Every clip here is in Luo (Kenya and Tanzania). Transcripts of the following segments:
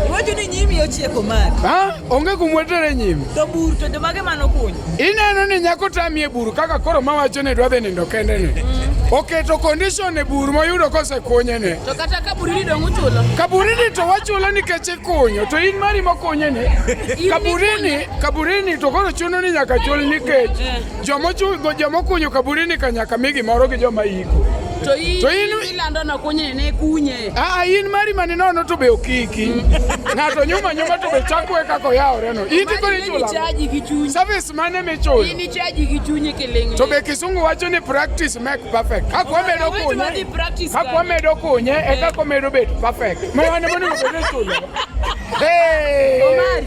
Iwacho ni nyimi ochieko mari. Ha? Onge kumwetere nyimi. To buru to joma ge mano kunyo. Ineno ni nyako tamie buru kaka koro mawacho ni dwadhe nindo kende ni. Mm. Oketo condition e buru moyudo kose kunye ni. To kata kaburi ni dongu chulo. Kaburi ni to wachulo ni keche kunyo to in mari mokunye ni. Kaburi ni, kaburi ni to koro chuno ni nyaka chul ni keche. Eh. Joma kunyo kaburini kanyaka mi gimoro gi joma iko. To in ilando na kunye ne kunye. Ah, ah in mari mani nono to be okiki. Ng'ato nyuma nyuma to be chakwe kako yaore no. In tiko ni chula. Chaji gi chunyi. Service mane me chula. In chaji gi chunyi kilingi. To be kisungu wacho ni practice make perfect. Kako medo kunye. Kako medo kunye e kako medo bet perfect. Mwana mwana mwana chula. Hey. Omari.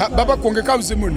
Ah, baba kuongeka uzimuni